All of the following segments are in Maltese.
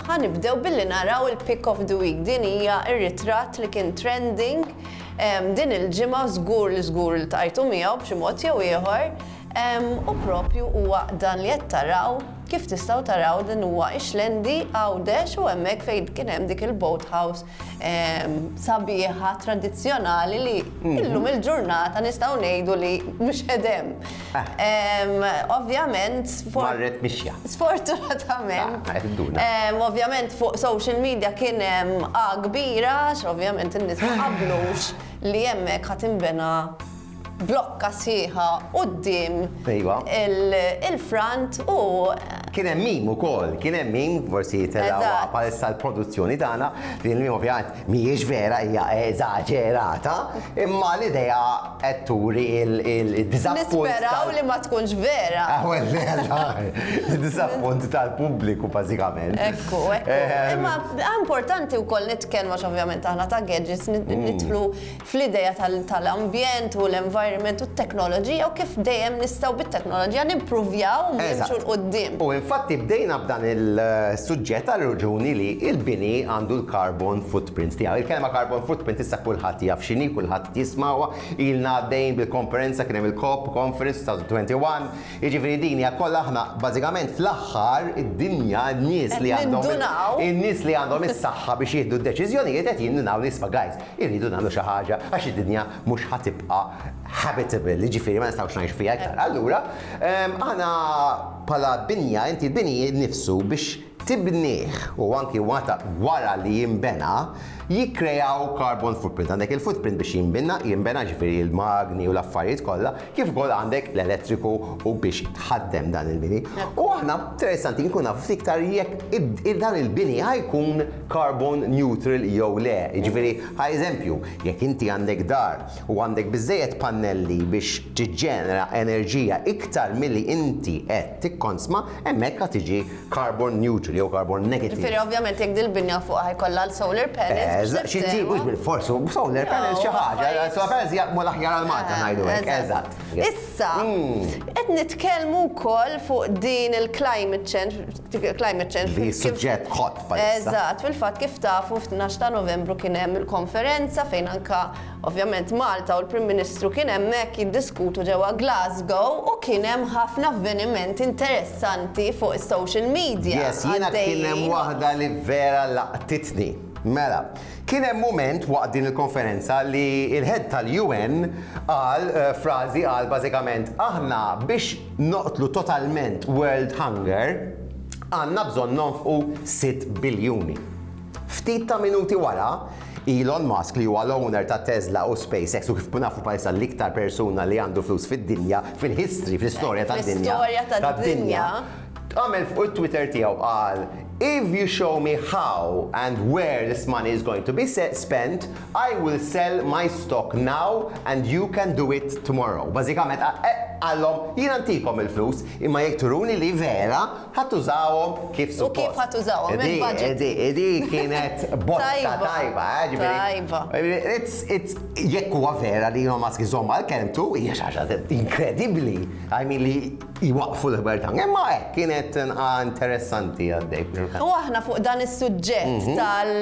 Ħa nibdew billi naraw il-pic of the week. Din hija r-ritratt li kien trending din il-ġimgħa, żgur li żgur iltqajtu miegħu b'xi mod jew ieħor, u proprju huwa dan li qed taraw, kif tistgħu taraw din huwa Ixlendi, Għawdex, u hemmhekk fejn kien hemm dik il-boat house sabiħa, tradizzjonali li mhm. illum il-ġurnata nistgħu ngħidu li mhux edem. Ah. Ovvjament, sfortunatament, ah, ovvjament fuq social media kien hemm A kbira, ovvjament in-nies ma qablux li hemmhekk ħadd inbena blokka sħiħa quddiem il-front u. Kien hemm meme ukoll, kien hemm meme, forsi telgħu bħalissa l-produzzjoni tagħna, li l-meme ovvjament mhijiex vera hija eżaġerata, imma l-idea qed turi d-diżappunt. Nisperaw li ma tkunx vera. Id-diżappunt tal-pubbliku bażikament. Ekku, ekku. Imma importanti wkoll nitkellmu għax ovvjament aħna ta' gadgets nidħlu fl-idea tal-ambjent u l-environment u t-teknoloġija u kif dejjem nistgħu bit-teknoloġija nimpruvjaw u nimxu 'l quddiem. Eżatt. U infatti bdejna b'dan il-suġġett għar-raġuni li l-bini għandu l-carbon footprint tiegħu. Il-kelma carbon footprint issa kulħadd jaf x'inhi, kulħadd qed jismagħha, ilna għaddejjin bil-konferenza, kien hemm il-COP conference fl-2021, jiġifieri din hija kollha aħna bażikament fl-aħħar id-dinja, n-nies li għandhom. Qed nindunaw. In-nies li għandhom is-saħħa biex jieħdu d-deċiżjonijiet qed jindunaw li isma' guys, Irridu nagħmlu xi ħaġa għax id-dinja mhux ħa tibqa' habitable, jiġifieri ma nistgħux ngħixu fiha iktar. Allura, aħna bħala binja, inti l-bini nnifsu biex tibnih u anki meta wara li jinbena, jikkreaw carbon footprint. Għandek il-footprint biex jinbina, jiġifieri l-magni u l-affarijiet kollha, kif ukoll għandek l-elettriku u biex tħaddem dan il-bini. U aħna interessanti nkun naf iktar jekk dan il-bini ħajkun carbon neutral jew le. Jiġifieri, ħa eżempju, jekk inti għandek dar u għandek biżejjed pannelli biex tiġġenera enerġija iktar milli inti qed tikkonsma, hemmhekk ħa tiġi carbon neutral jew carbon negative. Ġifieri ovvjament jekk dil-binja fuqha jkollha l-solar panels. Eżatt, xi tip mhux bil-fors, solar panels xi ħaġa, solar panels jaqmu l-aħjar għal Malta ngħidu hekk, eżatt. Issa, hmm. qed nitkellmu wkoll fuq din il-climate change, climate change. Li suġġett hot Eżatt, fil-fatt kif tafu f'12 ta' Novembru kien hemm il-konferenza fejn anka Ovvjament Malta u l-Prim Ministru kien hemmhekk jiddiskutu ġewwa Glasgow u kien hemm ħafna avvenimenti interessanti fuq is-social media. Yes, jiena kien hemm waħda li vera laqtitni. Mela, kien hemm mument waqt din il-konferenza li l-Head tal-UN qal frażi qal bażikament aħna biex noqtlu totalment world hunger għandna bżonn nonfqu sitt biljuni. Ftit ta' minuti wara, Elon Musk li huwa l-owner ta' Tesla u SpaceX u kif nafu bħalissa l-iktar persuna li għandu flus fid-dinja, fil-history, fl-istorja tad-dinja, tad-dinja, għamel fuq it-Twitter tiegħu qal If you show me how and where this money is going to be spent, I will sell my stock now and you can do it tomorrow. Bażikament qallhom jiena ntikom il-flus imma jekk turuni li vera Ħa tużahom kif suppost. U kif ħa tużahom? Hemm il-budget. Di, di, di kienet botta tajba, eh, ġifieri. Tajba. It's, it's, jekk huwa vera li Elon Musk iżomm għal kelmtu, hija xi ħaġa inkredibbli. I mean li jwaqqfu l-ħbar ta' imma hekk kienet nqa' interessanti għaddej. U aħna fuq dan is-suġġett tal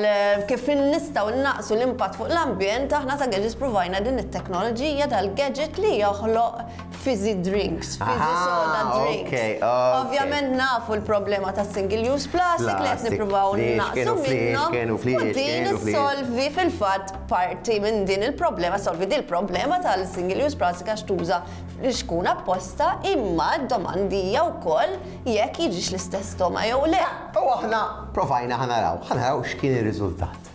kif nistgħu naqsu l-impatt fuq l-ambjent, aħna ta' Gadgets provajna din it-teknoloġija tal-gadget li joħloq fizzy drinks, fizzy soda drinks. Ovvjament nafu l-problema ta' single use plastic li qed nippruvaw naqsu minnhom u din issolvi fil-fatt parti minn din il-problema, solvi din il-problema tal-single use plastic għax tuża l-ixkun apposta imma d-domanda hija wkoll jekk jiġix l-istess stoma jew le. U aħna provajna ħa naraw, ħa naraw x'kien ir-riżultat.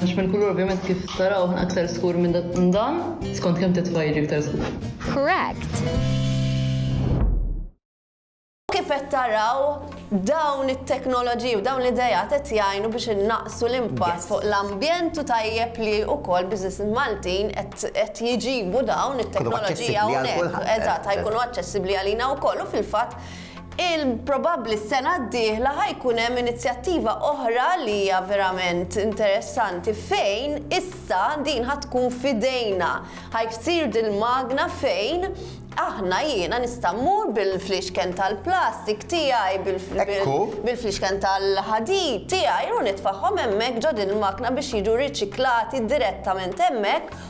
Għax minn kulur ovvjament kif taraw ħna aktar skur minn dan, skont kemm titfa' jiġi aktar skur. Correct. Kif qed taraw dawn it-teknoloġiji u dawn l-idea qed jgħinu biex innaqsu l-impatt fuq l-ambjent u tajjeb li wkoll business Maltin qed jiġibu dawn it-teknoloġija hawnhekk. Eżatt, ħajkunu aċċessibbli għalina wkoll u fil-fatt il, probabbli s-sena d-dieħla ħa jkun hemm inizjattiva oħra li hija verament interessanti fejn issa din ħa tkun f'idejna. Ħa jsir dil-magna fejn aħna jiena nista' mmur bil-flixken tal-plastik tiegħi, bil-flixken tal-ħadid tiegħi u nitfagħhom hemmhekk ġo din il-magna biex jiġu riċiklati direttament hemmhekk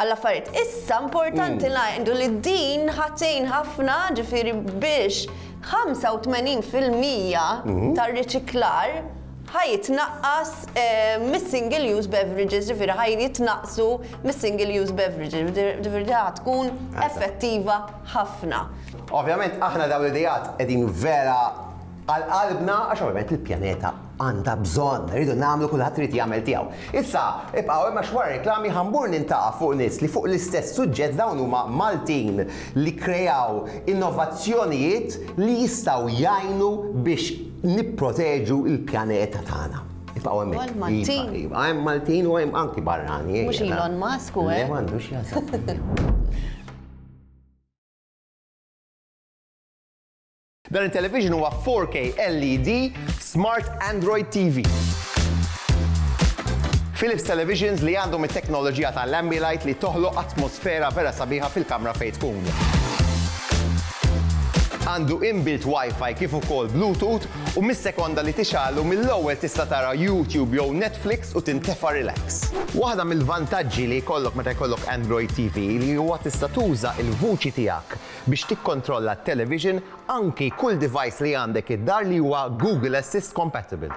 għall-affarijiet. Issa importanti ngħidu li din ħa tgħin ħafna ġifieri biex 85 fil-mija tar-riċiklar ħa jitnaqqas mis-single use beverages, ġifieri ħa jitnaqqsu mis-single use beverages, ġifieri din ħa tkun effettiva ħafna. Ovvjament aħna dawn l-ideat qegħdin vera għal qalbna għax ovvjament il-pjaneta għandha bżonn. Irridu nagħmlu kulħadd irid jagħmel tiegħu. Issa, ibqgħu hemm għax wara reklami ħa mmur nintaqa' fuq nies li fuq l-istess suġġett dawn huma Maltin li kkreaw innovazzjonijiet li jistgħu jgħinu biex nipproteġu l-pjaneta tagħna. Ibqgħu hemmhekk. Ukoll Maltin. Iva, iva, hemm Maltin u hemm anki barranin. Mhux Elon Musk u hekk. Le m'għandux x'jaqsam. Dan it-television huwa 4K LED Smart Android TV. Philips televisions li għandhom it-teknoloġija ta' l-Ambilight li toħloq atmosfera vera sabiħa fil-kamra fejn tkun. Għandu inbuilt Wi-Fi kif ukoll Bluetooth u mis-sekonda li tixgħallu mill-ewwel tista' tara YouTube jew Netflix u tintefa' relax. Waħda mill-vantaġġi li jkollok meta jkollok Android TV li huwa tista' tuża l-vuċi tiegħek biex tikkontrolla t-televixin, anki kull device li għandek id-dar li huwa Google Assist compatible.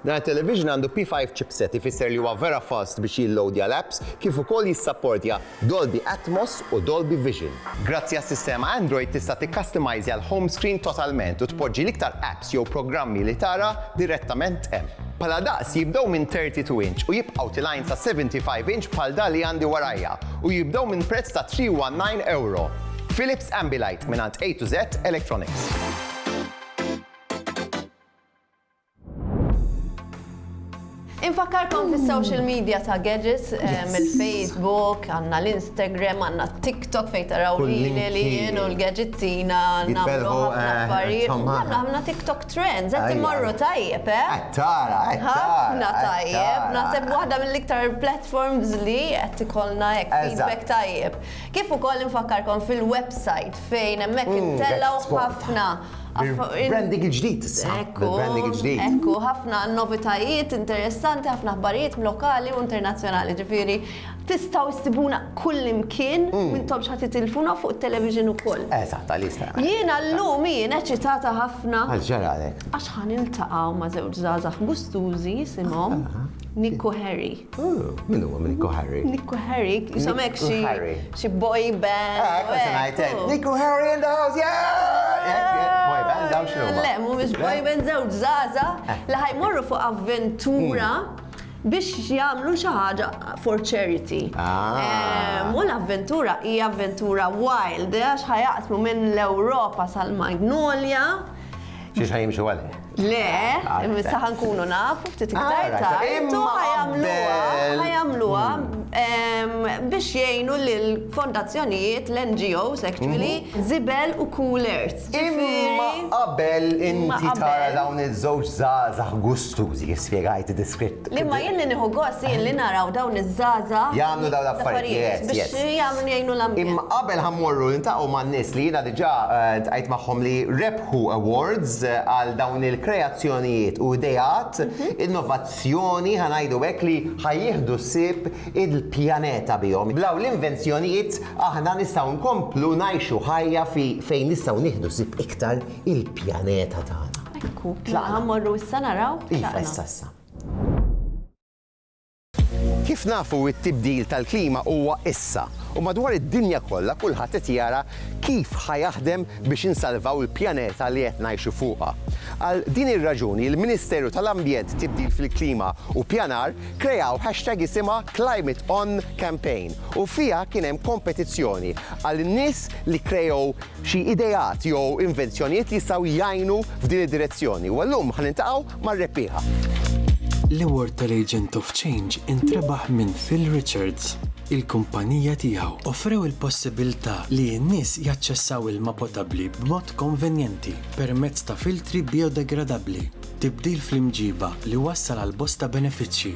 Dan it-televixin għandu P5 chipset ifisser li huwa vera fast biex jilloadja l-apps kif ukoll jissapportja Dolby Atmos u Dolby Vision. Grazzi għas-sistema Android tista' tikkastimajżja l-home screen totalment u tpoġġi l-iktar apps jew programmi li tara direttament hemm. Bħala daqs jibdew minn 32 inch u jibqgħu tilgħin sa 75 inch bħal dan li għandi warajja u jibdew minn prezz ta' €319. Philips Ambilight mingħand A to Z Electronics. Infakkarkom fis-social media ta' Gadgets, mill-Facebook, għandna l-Instagram, għandna t-TikTok fejn taraw lili li jien u l-gadgetina nagħmlu ħafna affarijiet. Għandna ħafna TikTok trends, qed immorru tajjeb, eh? Qed tara, qed tara. Ħafna tajjeb, naħseb waħda mill-iktar platforms li qed ikollna hekk feedback tajjeb. Kif ukoll infakkarkom fil-website fejn hemmhekk intellgħu ħafna Branding il-ġdid issa. Ekku, ekku, ħafna novitajiet interessanti, ħafna ħbarijiet lokali u internazzjonali. Ġifieri, tistgħu ssibuna kull imkien, mm. mintom x'ħadd titilfuna fuq it-television ukoll. Eżatt, għalista. Jiena llum jien eċitata ħafna. Għax ħan iltaqgħu ma' żewġ żgħażagħ gustużi jisimhom Nikku Harry. Min huwa minn Nico Harry? Nico Harry, jisom hekk xi xi boy band. Ah, hekk se ngħidlek. Nico Harry in the house, yeah! Boy band dawn xi huma? Le, mhumiex boy band żewġ żaża eh. li ħajmorru fuq avventura hmm. biex jagħmlu xi ħaġa for charity. Ah. Eh, u l-avventura hija avventura wild, eh, għax ħajaqsmu minn l-Ewropa sal-Magnolia. Xiex ħajimxu għalli? Le, imissa ħankunu naf, ftit iktar ta' imma ħajamluwa, ħajamluwa hmm. biex jgħinu l-fondazzjonijiet, l-NGOs, actually, mhm. zibel u coolers. Imma qabel inti tara dawn iż-żewġ zazax gustużi, spiegajt diskritt. Imma jien li nieħu gost jien li naraw dawn iż-żaza. Jagħmlu dawn l-affarijiet. Biex jagħmlu jgħinu l-ambjent. Imma qabel ħammorru nintaqgħu man-nies li jiena diġà eh, tqajt magħhom li rep Who Awards għal dawn il-kreazzjonijiet u ideat, innovazzjoni ħa ngħidu hekk li ħa jieħdu ħsieb il-pjaneta bihom. B'dawn l-invenzjonijiet aħna nistgħu nkomplu ngħixu ħajja fi fejn nistgħu nieħdu ħsieb iktar il-pjaneta tagħna. Ekku, mela ħa mmorru issa naraw, tlaqna. Iva, issa, issa. Kif nafu t-tibdil tal-klima huwa issa u madwar id-dinja kollha kulħadd qed jara kif ħa jaħdem biex insalvaw il-pjaneta li qed ngħixu fuqha. Għal din ir-raġuni l-Ministeru tal-Ambjent, Tibdil fil-Klima u Pjanar kreaw hashtag isimha Climateon Campaign u fiha kien hemm kompetizzjoni għal nies li kreaw xi ideat jew invenzjonijiet li jistgħu jgħinu f'din id-direzzjoni u llum ħa niltaqgħu mar-rebbieħa. L-award tal-Agent of Change intrebaħ minn Phil Richards. Il-kumpanija tiegħu offrew il-possibilità li n-nies jaċċessaw ilma potabbli b'mod konvenjenti permezz ta' filtri bijodegradabbli, tibdil fl-imġiba li wassal għal bosta benefiċċji.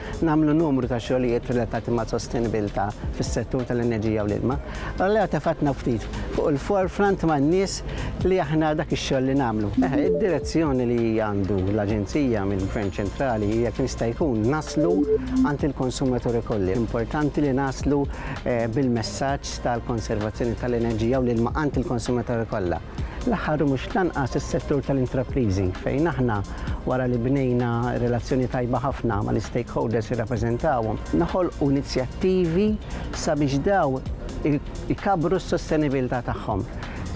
nagħmlu numru ta' xogħlijiet relatati mas-sostenibilità fis-settur tal-enerġija u l-ilma. Allura tefatna ftit fuq il-forefront man-nies li aħna dak ix-xogħol li nagħmlu. Id-direzzjoni li għandu l-Aġenzija mill-Gvern Ċentrali hija kemm jista' jkun naslu għand il-konsumaturi kollha. Importanti li naslu bil-messaġġ tal-konservazzjoni tal-enerġija u l-ilma għand il-konsumaturi kollha. L-aħħar u mhux l-anqas is-settur tal-intrapriżi fejn aħna wara li bnejna relazzjoni tajba ħafna mal-istakeholders li rrappreżentawhom, noħolqu inizjattivi sabiex dawn ikabbru s-sostenibilità tagħhom,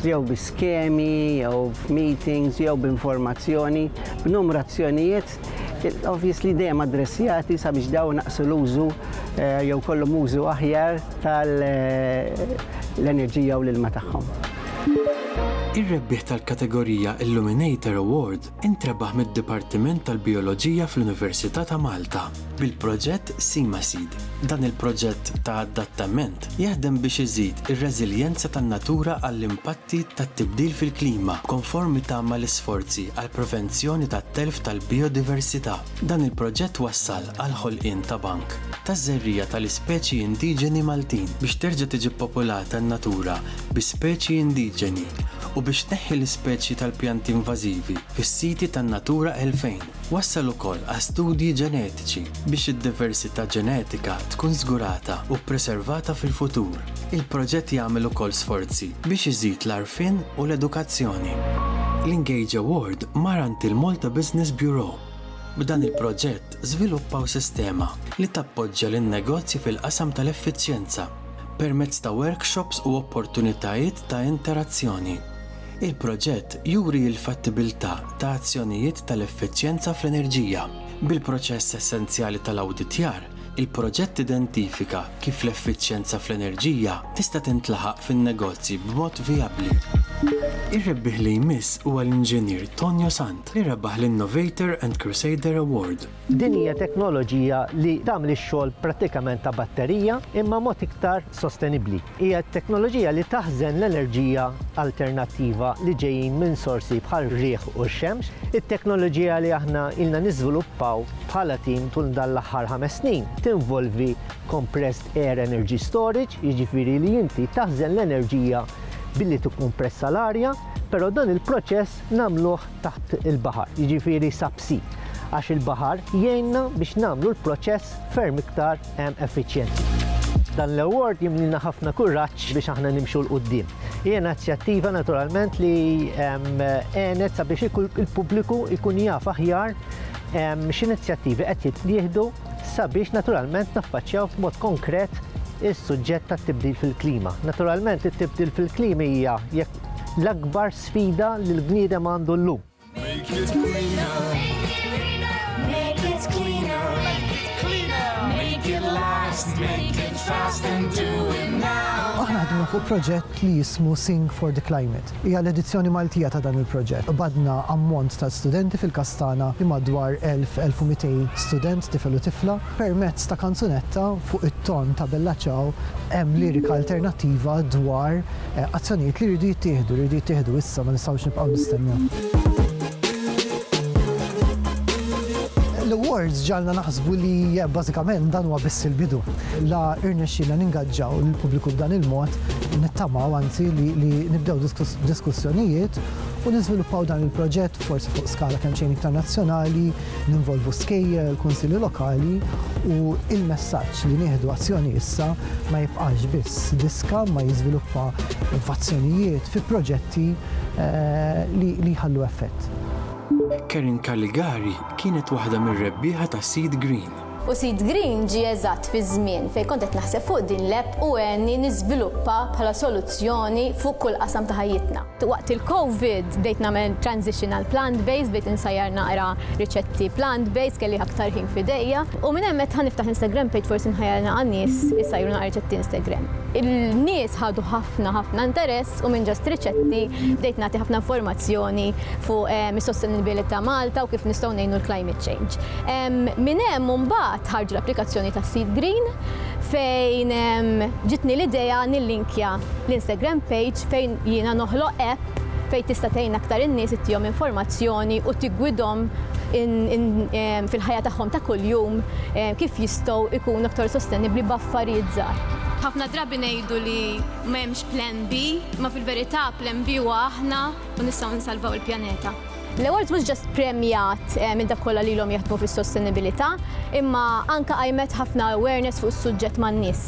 jew bi skemi, jew f'meetings, jew b'informazzjoni, b'numru azzjonijiet obviously dejjem addressjati sabiex dawn inaqqsu l-użu jew jkollhom użu aħjar tal-enerġija u l-ilma tagħhom. Ir-rebbieħ tal-kategorija Illuminator Award intrebaħ mid-Dipartiment tal-Bijoloġija fl-Università ta' Malta, bil-proġett Seamaseed. Dan il-proġett ta' adattament jaħdem biex iżid ir-reżiljenza tan-natura għall-impatti tat-tibdil fil-klima b'konformità mal-isforzi għall-prevenzjoni tat-telf tal-bijodiversità. Dan il-proġett wassal għall-ħolqien ta' bank taż-żerriegħa tal-ispeċi indiġeni Maltin biex terġa' tiġi ppopolata n-natura bi speċi indiġeni u biex tneħħi l-ispeċi tal-pjanti invażivi fis-siti tan-Natura 2000. Wassal ukoll għal studji ġenetiċi biex id-diversità ġenetika tkun żgurata u ppreservata fil-futur. Il-proġett jagħmel ukoll sforzi biex iżid l-għarfien u l-edukazzjoni. L-Engage Award mar għand il-Malta Business Bureau. B'dan il-proġett żviluppaw sistema li tappoġġja lin-negozji fil-qasam tal-effiċjenza. permezz ta' workshops u opportunitajiet ta' interazzjoni. Il-proġett juri l-fattibilità ta' azzjonijiet tal-effiċjenza fl-enerġija. Bil-proċess essenzjali tal-awditjar, il-proġett identifika kif l-effiċjenza fl-enerġija tista' tintlaħaq fin-negozji b'mod vijabbli. Ir-rebbieħ li jmiss huwa l-Inġinier Tonio Sant li rebaħ l-Innovator and Crusader Award. Din hija teknoloġija li tagħmel ix-xogħol prattikament ta' batterija imma mod iktar sostenibbli. Hija teknoloġija li taħżen l-enerġija alternattiva li ġejjin minn sorsi bħar-riħ u x-xemx. It-teknoloġija li aħna ilna niżviluppaw bħala tim tul dan l-aħħar ħames snin tinvolvi compressed air energy storage, jiġifieri li inti taħżen l-enerġija billi tikkumpressa l-arja, però dan il-proċess nagħmluh taħt il-baħar, jiġifieri subsea, għax il-baħar jgħinna biex nagħmlu l-proċess ferm iktar effiċjenti. Dan l-award jimlina ħafna kuraġġ biex aħna nimxu 'l quddiem. Hija inizjattiva naturalment li għenet sabiex il-pubbliku jkun jaf aħjar x'inizjattivi qed jittieħdu sabiex naturalment naffaċċjaw b'mod konkret is-suġġett tat-tibdil fil-klima. Naturalment it-tibdil fil-klima hija jekk l-akbar sfida li l-bniedem għandu llum. Make it Aħna ħdimna fuq proġett li jismu Sing for the Climate. Hija l-edizzjoni Maltija ta' dan il-proġett. Qbadna ammont ta' studenti fil-Kastana li madwar 1,000-1,200 student, tifel u tifla. Permezz ta' kanzunetta fuq it-ton ta' Bella Ciao hemm lirika alternattiva dwar Azzjonijiet li jridu jittieħdu, li jridu jittieħdu issa, ma nistgħux nibqgħu nistennew. L-awards ġalna naħsbu li eh, bażikament dan huwa biss il-bidu. La irnexxina ningaġġaw lill-pubbliku b'dan il-mod, nittamaw anzi li nibdew diskussjonijiet u niżviluppaw dan il-proġett forsi fuq skala kemm xejn iktar nazzjonali Ninvolvu skejjel, il-kunsilli lokali u l-messaġġ li nieħdu azzjoni issa ma jibqax biss diska ma jiżviluppa f'azzjonijiet, fi proġetti li jħallu effett. Karen Caligari kienet waħda mir-rebbieħa tas-Seed Green. U Sid Green ġie eżatt fiż-żmien fejn kont qed naħseb fuq din l-app u għenni niżviluppa bħala soluzzjoni fuq kull qasam ta' ħajjitna. Waqt il-Covid bdejt nagħmel transition għal plant based, bdejt insajjar naqra riċetti plant based, kelli aktar ħin f'idejja. U minn hemm għedt ħa niftaħ Instagram page forsi nħajjar nilqa' nies isajru naqra riċetti Instagram. Il-nies ħadu ħafna ħafna interess u minn just riċetti bdejt nagħti ħafna informazzjoni fuq is-sostenibilità Malta u kif nistgħu ngħinu l-climate change. Minn hemm imbagħad ħarġu l-applikazzjoni ta' Seed Green fejn ġitni l-idea nillinkja l-Instagram page fejn jiena noħloq app fejn tista' tgħin aktar in-nies ittihom informazzjoni u tiggwidhom fil-ħajja tagħhom ta' kuljum kif jistgħu jkunu aktar sostenibbli b'affarijiet żgħar. Ħafna drabi ngħidu li m'hemmx plan B, imma fil-verità plan B huwa aħna u nistgħu nsalvaw il-pjaneta. L-awards mhux ġast premjat eh, minn dak kollha lilhom jaħdmu fis-sostenibilità, imma anke qajmet ħafna awareness fuq is-suġġett man-nies.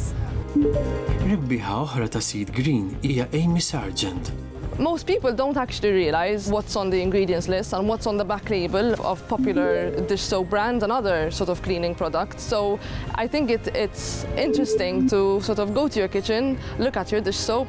Rebbieħa oħra ta' Seed Green hija Amy Sargent. Most people don't actually realise what's on the ingredients list and what's on the back label of popular dish soap brands and other sort of cleaning products. So I think it, it's interesting to sort of go to your kitchen, look at your dish soap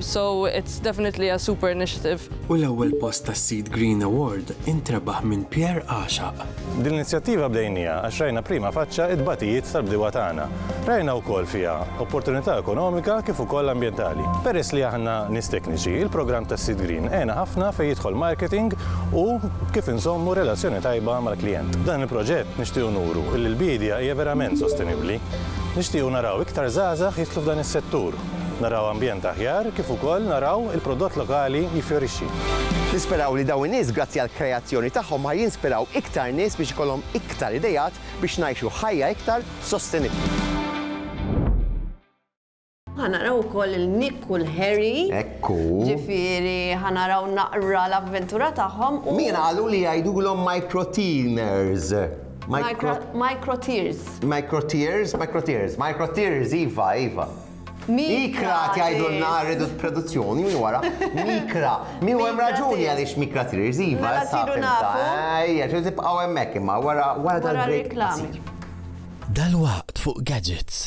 So it's definitely a super initiative. U l-ewwel post tas-Seed Green Award intrebaħ minn Pierre Għaxaq. Din l-inizjattiva bdejniha għax rajna prima faċċa it-tbatijiet tal-bdiewa tagħna. Rajna wkoll fiha opportunità ekonomika kif ukoll ambjentali. Peress li aħna nies tekniċi, il-programm tas-Seed Green għena ħafna fejn jidħol marketing u kif inżommu relazzjoni tajba mal-klijent. B'dan il-proġett nixtiequ nuru li l-biedja hija verament sostenibbli. Nixtiequ naraw iktar żgħażagħ jidħlu f'dan is-settur. Naraw ambjent aħjar kif ukoll naraw il-prodott lokali jiffjorixxi. Nisperaw li dawn in-nies grazzi għall-kreazzjoni tagħhom ħa jinspiraw iktar nies biex ikollhom iktar ideat biex ngħixu ħajja iktar sostenibbli. Ħa naraw ukoll il-Nick u l-Harry. Ekku. Ġifieri ħa naraw naqra l-avventura tagħhom. Min qalu li jgħidulhom microteamers? Micro... Microtears. Microtears, microtears, microtears, iva, iva. Mikra tgħidu n-nar ridu produzzjoni minn wara. Mikra. Mi hemm raġuni għaliex mikra tears, iva. Mela sidu nafu. Ejja, xi tibqgħu hemmhekk imma wara wara dal-break. Dal-waqt fuq gadgets.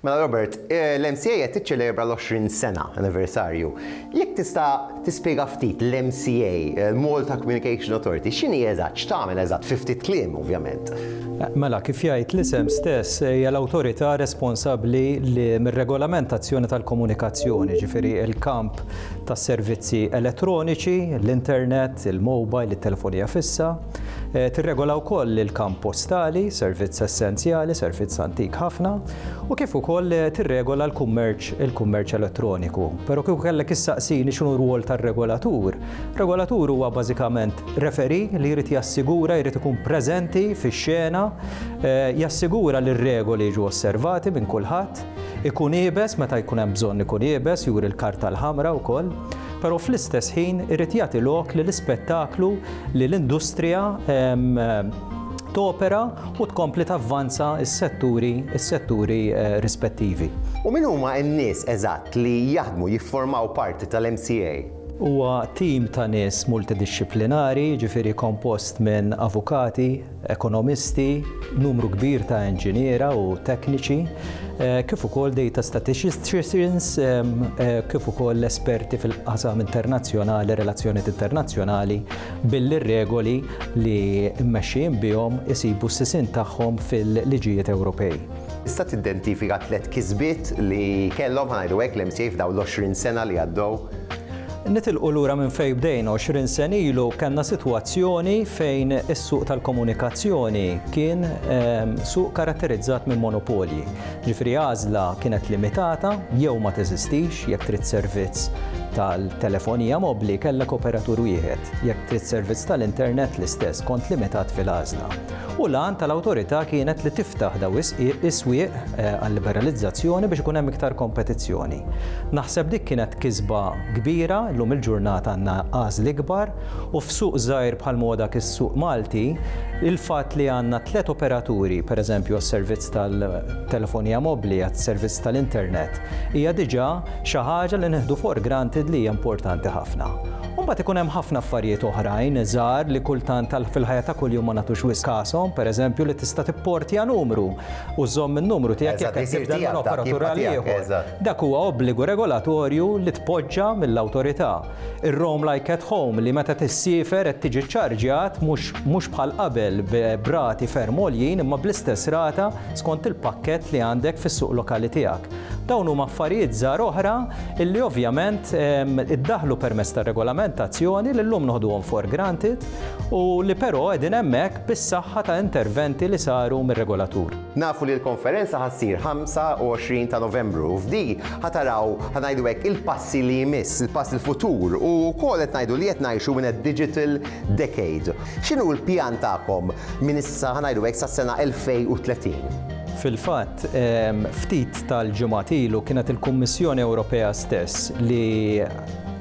Mela Robert, eh, l-MCA qed tiċċelebra l-20 sena anniversarju. Jekk tista' tispjega ftit l-MCA, eh, Malta Communication Authority, x'inhi eżatt, x'tagħmel eżatt fi ftit kliem ovvjament. Mela kif jgħid l-isem stess eh, hija l-awtorità responsabbli li mir-regolamentazzjoni tal-komunikazzjoni, ġifieri il-kamp tas-servizzi elettroniċi, l-internet, il-mobile, it-telefonija fissa, Tirregola wkoll il-kamp postali, servizz essenzjali, servizz antik ħafna, u kif ukoll tirregola l-kummerċ, il-kummerċ elettroniku. Però kieku kellek issaqsini x'inhu r-rwol tar-regolatur, regolatur huwa bażikament referee li jrid jassigura, jrid ikun preżenti fix-xena, jassigura li r-regoli jiġu osservati minn kulħadd, ikun iebes meta jkun hemm bżonn ikun iebes, juri l-karta l-ħamra wkoll, però fl-istess ħin irid jagħti lok li l-ispettaklu li l-industrija topera u tkompli tavvanza s-setturi rispettivi. U min huma n-nies eżatt li jaħdmu, jifformaw parti tal-MCA? Huwa tim ta' nies multidixxiplinari, jiġifieri kompost minn avukati, ekonomisti, numru kbir ta' inġiniera u tekniċi, kif ukoll data statisticians, kif ukoll esperti fil-qasam internazzjonali, relazzjonijiet internazzjonali, billi r-regoli li mmexxijin bihom isibu s-sisien tagħhom fil-liġijiet Ewropej. Tista' tiddentifika tliet kisbiet li kellhom, ħa ngħidu hekk, l-MCA f'dawn l-20 sena li għaddew? Nitilqu lura minn fejn bdejna, għoxrin sena ilu kellna sitwazzjoni fejn is-suq tal-komunikazzjoni kien suq karatterizzat minn monopolji. Jiġifieri għażla kienet limitata jew ma teżistix, jekk trid servizz tal-telefonija mobbli kellek operatur wieħed, jekk trid servizz tal-internet l-istess, kont limitat fil-għażla. u l-għan tal-Awtorità kienet li tiftaħ dawn is-swieq għal-liberalizzazzjoni biex ikun hemm iktar kompetizzjoni. Naħseb dik kienet kisba kbira, llum il-ġurnata għandna għażli kbar u f'suq żgħir bħalma huwa dak is-suq Malti, il-fatt li għandna tliet operaturi, pereżempju għas-servizz tal-telefonija mobbli, għas-servizz tal-internet, hija diġà xi ħaġa li nieħdu for granted li hija importanti ħafna. U mbagħad ikun hemm ħafna affarijiet oħrajn żgħar li kultant tal fil-ħajja ta' kuljum ma nagħtux wisq kashom, pereżempju li tista' tipportja numru u żżomm in-numru tiegħek jekk qed tibdel minn operatur għal ieħor. Dak huwa obbligu regolatorju li tpoġġa mill-Awtorità. Ir-Roam Like at Home li meta tissiefer qed tiġi ċċarġjat mhux mhux bħal qabel b'rati ferm għoljin imma bl-istess rata skont il-pakkett li għandek fis-suq lokali tiegħek. Dawn huma affarijiet żgħar oħra li ovvjament iddaħħlu permezz tar-regolamentazzjoni li llum noħduhom for granted u li però qegħdin hemmhekk bis-saħħa ta' interventi li saru mir-regolatur. Nafu li l-konferenza ħa ssir 25 ta' Novembru u f'di ħa taraw, ħa ngħidu hekk, il-passi li jmiss, il-pass il-futur u wkoll qed ngħidu li qed ngħixu in a digital decade. X'inhu l-pjan tagħkom minn issa, ħa ngħidu hekk, sas-sena 2030? Fil-fatt, ftit tal-ġimgħat ilu kienet il-Kummissjoni Ewropea stess li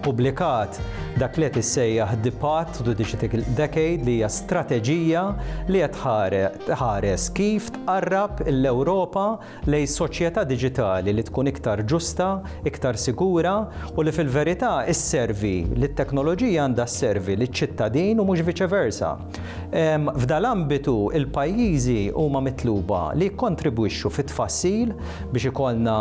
ppubblikat dak li qed issejjaħ The Path to Digital Decade li hija strateġija li qed tħares kif tqarrab l-Ewropa lejn soċjetà diġitali li tkun iktar ġusta, iktar sigura u li fil-verità sservi li t-teknoloġija għandha sservi liċ-ċittadin u mhux viċeversa. F'dal-ambitu, il-pajjiżi huma mitluba li jikkontribwixxu fit-tfassil biex ikollna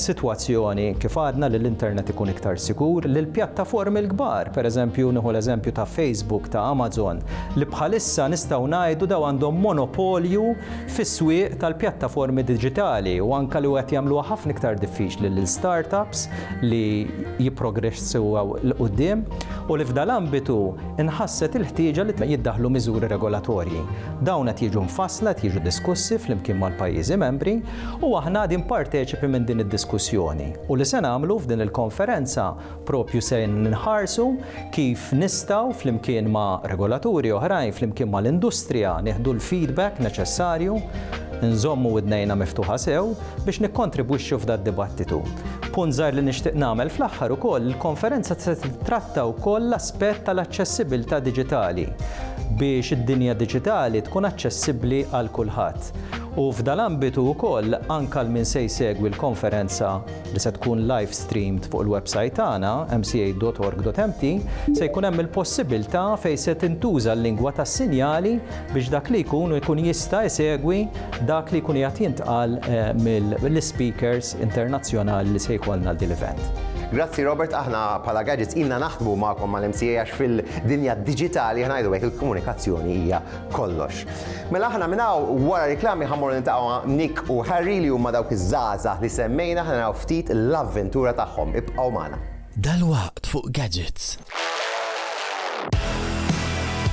sitwazzjoni, kif għadna, li l-internet ikun iktar sigur, li l-pjattaformi l-kbar, pereżempju nieħu l-eżempju ta' Facebook, ta' Amazon, li bħalissa nistgħu ngħidu dawn għandhom monopolju fis-swieq tal-pjattaformi diġitali u anke li qed jagħmluha ħafna iktar diffiċli lil start-ups li jipprogresseww 'l quddiem u li f'dal-ambitu Inħasset il-ħtieġa li jiddaħħlu miżuri regolatorji. Dawn qed jiġu mfassla, qed jiġu diskussi flimkien mal-pajjiżi membri u aħna għadin parteċipi minn din id-diskussjoni. U li se nagħmlu f'din il-konferenza proprju se nħarsu kif nistgħu flimkien ma' regolaturi oħrajn, flimkien mal-industrija nieħdu l-feedback neċessarju, inżommu widnejna miftuħa sew, biex nikkontribwixxu f'dad-dibattitu. Punt żgħir li nixtieq nagħmel fl-aħħar ukoll, il-konferenza se tittratta wkoll l-aspett tal-aċċessibilità diġitali biex id-dinja diġitali tkun aċċessibbli għal kulħadd. U f'dal-ambitu wkoll, anke għal min se jsegwi l-konferenza li se tkun live streamed fuq il-websajt tagħna, mca.org.mt, se jkun hemm il-possibilità fejn se tintuża l-lingwa tas-sinjali biex dak li jkun ikun jista' jsegwi dak li jkun qiegħed jintqal mill-ispeakers internazzjonali li se jkollna għal din l-event. Grazzi Robert, aħna bħala Gadgets ilna naħdmu magħkom mal-MCA għax fil-dinja diġitali aħna ngħidu hekk il-komunikazzjoni hija kollox. Mela aħna minn hawn wara riklami ħammur niltaqgħu Nick u Harry li huma dawk iż-żgħażagħ li semmejna aħna naraw ftit l-avventura tagħhom. Ibqgħu magħna. Dalwaqt fuq Gadgets.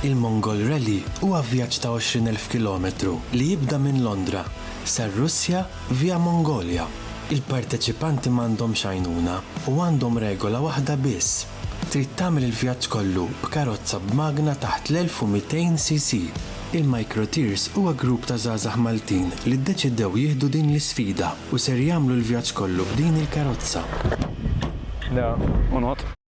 Il-Mongol Rally huwa vjaġġ ta' 20 elf kilometru li jibda minn Londra sar-Russja via Mongolja. Il-parteċipanti m'għandhomx għajnuna u għandhom regola waħda biss, trid tagħmel il-vjaġġ kollu b'karozza b'magna taħt l-1200 cc. Il-Microtears huwa grupp ta' żgħażagħ Maltin li ddeċidew jieħdu din l-isfida u ser jagħmlu l-vjaġġ kollu b'din il-karozza.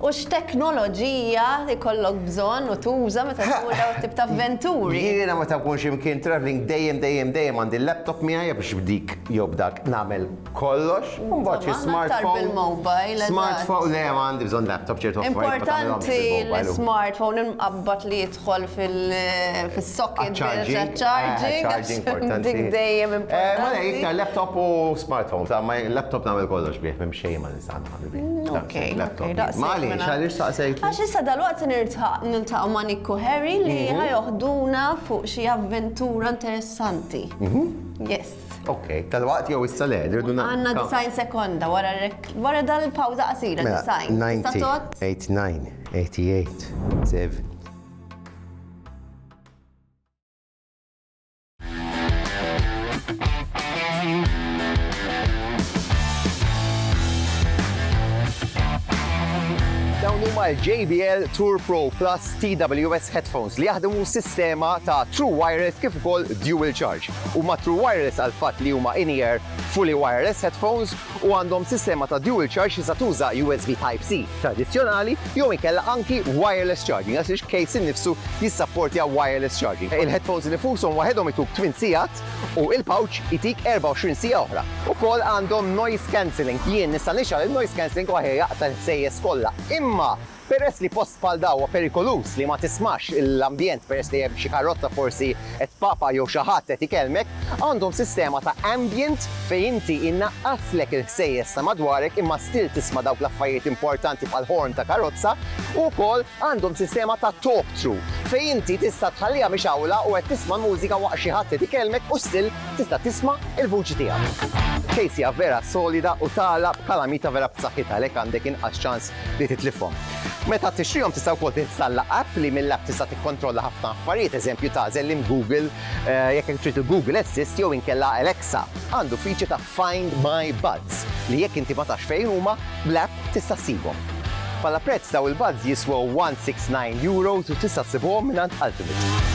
U x'teknoloġija jkollok bżonn u tuża meta tmur dawn it-tip ta' avventuri? Jiena meta nkun xi mkien travelling dejjem dejjem dejjem għandi l-laptop miegħi għax b'dik jew b'dak nagħmel kollox. U mbagħad xi smartphone. Insomma, aħna aktar bil-mobile, eżatt. Smartphone, le ma għandi bżonn laptop, ċertu affarijiet ma tagħmilhomx bil-mobile. Importanti l-smartphone imqabbad li jidħol fis-socket biex għaċ-charging. Għax dik dejjem importanti. Mela iktar laptop u smartphone, għax ma laptop nagħmel kollox bih, m'hemm xejn ma nista' nagħmel. Għax issa dalwaqt se niltaqgħu ma' Nikku Harry li ħajoħduna fuq xi avventura interessanti. Yes. Ok, dalwaqt jew issa le, rridu nagħmlu. Għandna design sekonda wara dal-pawża qasira design. 1989, 88, Dawn huma l-JBL Tour Pro Plus TWS headphones li jaħdmu sistema ta' True Wireless kif ukoll Dual Charge. Huma True Wireless għal fatt li huma in-ear fully wireless headphones u għandhom sistema ta' dual charge tista' tuża USB Type-C tradizzjonali jew inkella anki wireless charging għax il-case innifsu jissapportja wireless charging. Il-headphones innifushom waħedhom ituk tmien sigħat u il-pouch itik 24 siegħa oħra. Ukoll għandhom noise cancelling. Jien nista' nixgħal in-noise cancelling u aħjar jaqta' l-ħsejjes kollha. Imma! Peress li post bħal da huwa perikoluż li ma tismax l-ambjent peress li hemm xi karrozza forsi qed tpapa jew xi ħadd qed ikellmek, għandhom sistema ta' ambient fejn inti inaqqaslek il-ħsejjes ta' madwarek imma still tisma' dawk l-affarijiet importanti bħal horn ta' karozza u wkoll għandhom sistema ta' talk through fejn inti tista' tħalliha mixgħula u qed tisma' l-mużika waqt xi ħadd qed ikellmek u still tista' tisma' il-vuċi tiegħek. Case hija vera solida u tagħlaq b'kalamita vera b'saħħitha għalhekk għandek inqas ċans li titlifhom. Meta tixtrihom tista' wkoll tinstalla app li mill-app tista' tikkontrolla ħafna affarijiet, eżempju tagħżel li Google jekk hekk trid il-Google Assist jew inkella Alexa. Għandu feature ta' Find My Buds li jekk inti ma tafx fejn huma, bl-app tista' ssibhom. Bħala prezz dawn il-buds jiswew €169 u tista' ssibhom mingħand Ultimate.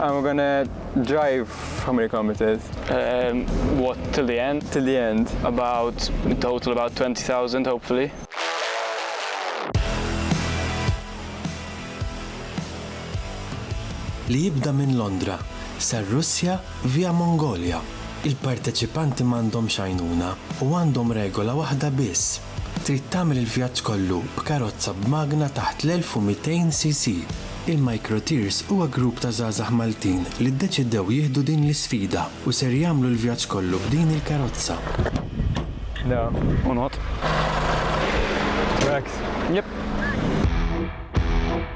I'm gonna drive, how many kilometers? Um, what, till the end? Till the end. About, total about 20,000 hopefully. Li jibda minn Londra, sar Russja via Mongolia. Il-parteċipanti m'għandhomx għajnuna u għandhom regola waħda biss, Trid tagħmel il-vjaġġ kollu b'karozza b'magna taħt l-1200 cc? Il-Microtiers huwa grupp ta' żgħażagħ Maltin li ddeċidew jieħdu din l-isfida u ser jagħmlu l-vjaġġ kollu b'din il-karozza.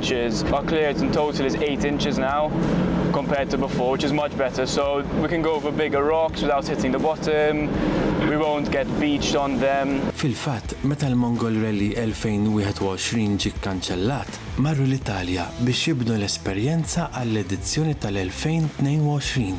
which is our clearance in total is eight inches now compared to before which is much better so we can go over bigger rocks without hitting the bottom, we won't get beached on them. Fil-fatt, meta l-Mongol Rally 2021 ġie kkanċellat, marru l-Italja biex jibnu l-esperjenza għall-edizzjoni tal-2022.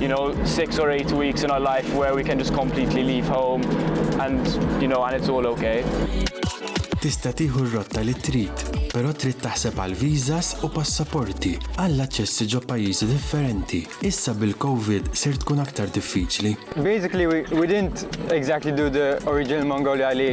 you know, six or eight weeks in our life where we can just completely leave home and, you know, and it's all okay. Tista' tieħu r-rotta li trid, però trid taħseb għal visas u passaporti għall aċċessi ġo pajjiżi differenti. Issa bil-COVID ser tkun aktar diffiċli. Basically we, we didn't exactly do the original Mongolia li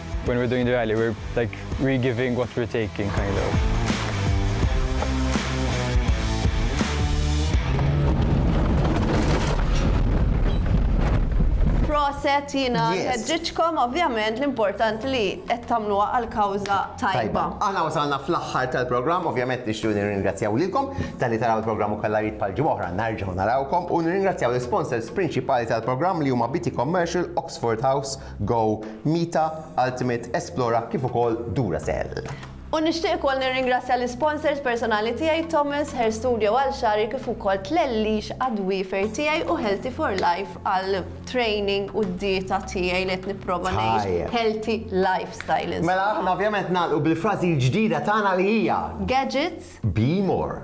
When we're doing the rally, we're like re-giving what we're taking, kind of. Proset jina ħedġiċkom, ovvjament l-important li qed tagħmluha għal-kawża tajba. Aħna wasalna fl-aħħar tal-programm, ovvjament nixtiequ nirringrazzjaw lilkom tal-li taraw il-programm ukoll għarid pal oħra narġgħu narawkom u nirringrazzjaw l-sponsors prinċipali tal-programm li huma Biti Commercial, Oxford House Go, Mita, Ultimate, Esplora kif ukoll Duracell. U nixtieq ukoll nirringrazzja l-isponsors personali tiegħi Thomas Hair Studio għal xagħri kif ukoll Tlellix għad-dwiefer tiegħi u Healthy for Life għal training u d-dieta tiegħi li qed nipprova ngħix healthy lifestyle insomma. Mela aħna ovvjament nagħlqu bil-frażi l-ġdida tagħna li hija. Gadgets Be More.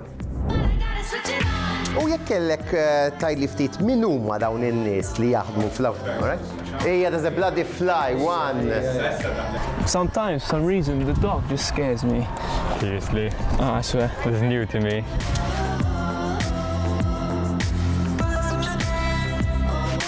U jekk kellek tgħidli ftit min huma dawn in-nies li jaħdmu fl-awtonomija? Ejja there's a bloody fly one. Sometimes, some reason, the dog just scares me. Seriously? Ah, I swear. This is new to me.